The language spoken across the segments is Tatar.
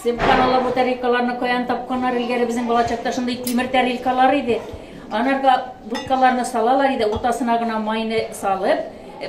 Сыпкан ала бу тарелкаларны каян тапканнар элгәре безнең балачакта шундый тимер тарелкалар иде. Анарга будкаларны салалар иде, уртасына гына майны салып, э,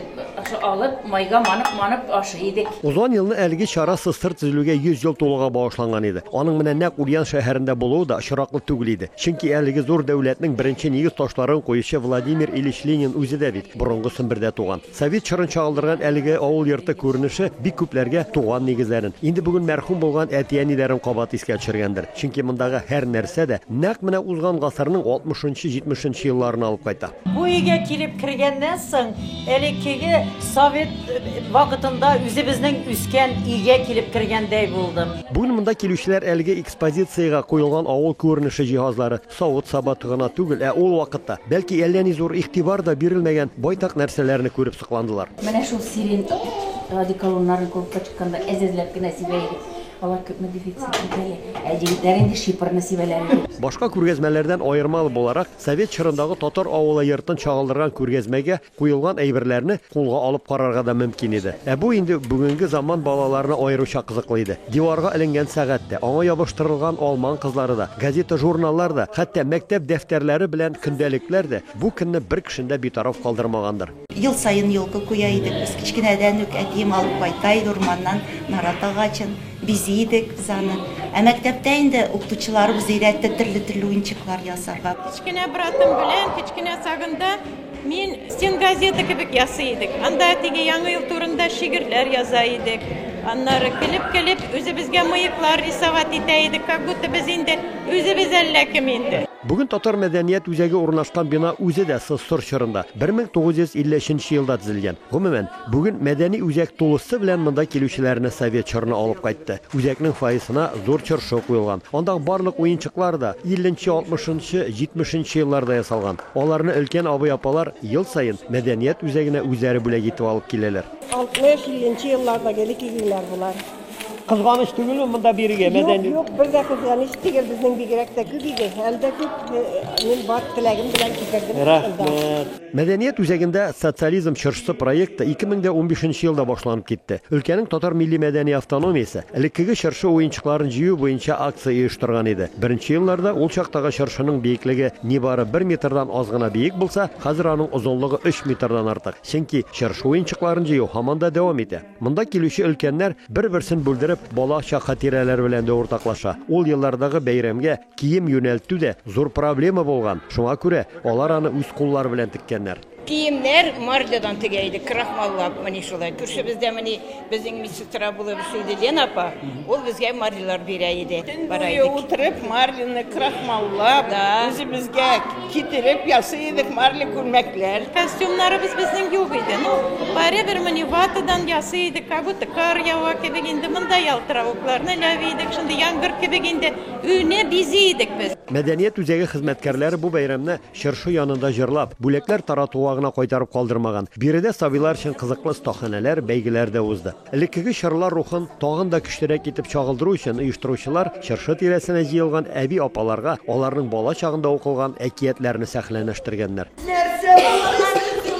алып, майга манып, манып ашый идек. Узган елны әлеге чара сыстыр төзелүгә 100 ел тулуга багышланган иде. Аның менә нәкъ Ульян шәһәрендә булуы да очраклы түгел иде. Чөнки әлеге зур дәүләтнең беренче нигез ташларын куючы Владимир Ильич Ленин үзе дә бит борынгы Сембердә туган. Совет чорын чагылдырган әлеге авыл йорты күренеше бик күпләргә туган нигезләрен, инде бүген мәрхүм булган әти-әниләрен кабат искә төшергәндер. Чөнки мондагы һәр нәрсә дә нәкъ менә узган гасырның алтмышынчы-җитмешенче елларына алып кайта. Бу өйгә килеп кергәннән соң, элеккеге совет вакытында үзебезнең үскән өйгә килеп кергәндәй булдым. Бүген монда килүчеләр әлеге экспозициягә куелган авыл күренеше җиһазлары, Савыт-саба гына түгел, ә ул вакытта, бәлки, әллә ни зур игътибар да бирелмәгән байтак нәрсәләрне күреп сокландылар. Менә шул сирень радиколоннарын клубка чыкканда әз-әзләп кенә сибә идек. Алар күпме дефицит бит әле. Ә егетләр инде шипырны сибәләр иде. Башка күргәзмәләрдән аермалы буларак, совет чорындагы татар авылы йортын чагылдырган күргәзмәгә Куелган әйберләрне кулга алып карарга да мөмкин иде. Ә бу инде бүгенге заман балаларына аеруча кызыклы иде. Диварга эленгән сәгать тә, аңа ябыштырылган алман кызлары да, газета-журналлар да, хәтта мәктәп дәфтәрләре белән көндәлекләр дә бу көнне бер кешене дә битараф калдырмагандыр. Ел саен елкы куя идек без. Кечкенәдән үк әтием алып кайта иде урманнан нарат агачын, бизи идек без аны. Ә мәктәптә инде укытучыларыбыз өйрәтте төрле-төрле уенчыклар ясарга. Кечкенә братым белән кечкенә сагында Мин стенгазета кебек ясый идек. Анда теге яңа ел турында шигырьләр яза идек. Аннары көлеп-көлеп үзебезгә мыеклар рисовать итә идек, как будто без инде үзебез әллә кем инде. Бүген татар мәдәният үзәге урнашкан бина үзе дә ссср чорында, 1953 нче елда төзелгән. Гомумән, Бүген мәдәни үзәк тулысы белән монда килүчеләрне совет чорына алып кайтты. Үзәкнең фойесына зур чыршы куелган. Андагы барлык уенчыклар да 50 нче, 60 нчы, 70 нчы елларда ясалган. Аларны өлкән абый-апалар ел саен мәдәният үзәгенә үзләре бүләк итеп алып киләләр. 60-50 нчы еллардагы элек игеннәр болар. Кызганыч түгелме монда бирегә мәдәни? Юк, юк, бер дә кызганыч түгел, безнең бигрәк тә күп иде. Әле дә күп, мин бар теләгем белән китердем. Рәхмәт. Мәдәният үзәгендә Социализм чыршысы проекты 2015 нче елда башланып китте. Өлкәнең татар милли-мәдәни автономиясе, элеккеге чыршы уенчыкларын җыю буенча акция оештырган иде. Беренче елларда ул чактагы чыршының биеклеге нибары бер метрдан аз гына биек булса, хәзер аның озынлыгы өч метрдан артык, чөнки чыршы уенчыкларын җыю һаман да дәвам итә. Монда килүче өлкәннәр, бер-берсен бүлдереп, бала чак хатирәләре белән дә уртаклаша. Ул еллардагы бәйрәмгә, Кием юнәлтү дә зур проблема булган, шуңа күрә алар аны үз куллары белән теккәннәр. Киемнәр марлядан тегә идек, крахмаллап, мени шулай. Күршебездә мени безнең медсестра булып эшли иде Лена апа, ул безгә марлялар бирә иде. Төн буе утырып, марляны крахмаллап, үзебезгә китереп ясый идек марля күлмәкләр. Костюмнарыбыз безнең юк иде, ну, барыбер мени ватадан ясый идек, как будто кар ява кебек инде, монда ялтыравыкларны эләви идек, шундый яңгыр кебек инде. Өйне бизи идек без. Мәдәният үзәге хезмәткәрләре бу бәйрәмне чыршы янында җырлап, бүләкләр таратуга гына кайтарып калдырмаган. Биредә сабыйлар өчен кызыклы остаханәләр, бәйгеләр дә узды. Элеккеге чорлар рухын тагын да көчлерәк итеп чагылдыру өчен оештыручылар чыршы тирәсенә җыелган әби-апаларга аларның бала чагында укылган әкиятләрне сәхнәләштергәннәр. Нәрсә булган икән?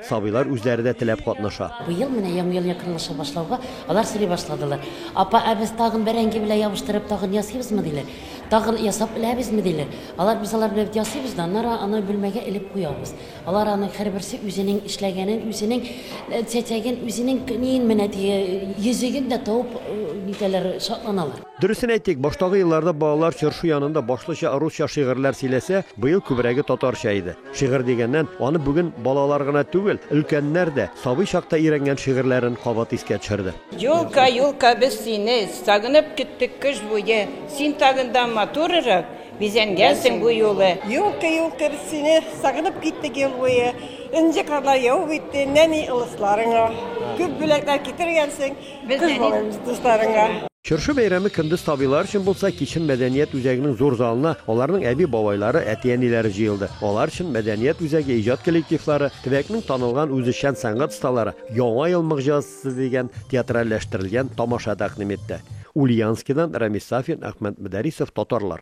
Сабыйлар үзләре дә теләп катнаша. Быел менә Яңа ел якынлаша башлауга, алар сөйли башладылар. Апа, ә без тагын бәрәңге белән ябыштырып тагын ясыйбызмы, диләр. Тагын ясап эләбезме, диләр. Алар, без алар белән бит ясыйбыз да, аннары аны бүлмәгә элеп куябыз. Алар аның һәрберсе үзенең эшләгәнен, үзенең чәчәген, үзенең ниен менә теге йөзеген дә табып, нитәләр, шатланалар. Дөресен әйтик, баштагы елларда балалар чыршу янында башлыча русча шигырьләр сөйләсә, быел күбрәге татарча иде. Шигырь дигәннән, аны бүген балалар гына түгел, өлкәннәр дә сабый чакта өйрәнгән шигырьләрен кабат искә төшерде. Юлка, юлка, без сине сагынып көттек кыш буе, Син тагындан матурырак бизәнгәнсең бу юлы. Юлка, юлка, без сине сагынып киттек ел буе, Энҗе карлар явып үтте нәни ылысларыңа, Күп бүләкләр китергәнсең, Без әни дусларыңа. Чыршы бәйрәме көндез сабыйлар өчен булса, кичен мәдәният үзәгенең зур залына аларның әби-бабайлары, әти-әниләре җыелды. Алар өчен мәдәният үзәге иҗат коллективлары, төбәкнең танылган үзешчән сәнгать осталары Яңа ел могҗизасы дигән театральләштерелгән тамаша тәкъдим итте. Ульяновскидан Рәмис Сафин, Әхмәт Мөдәрисов, Татарлар.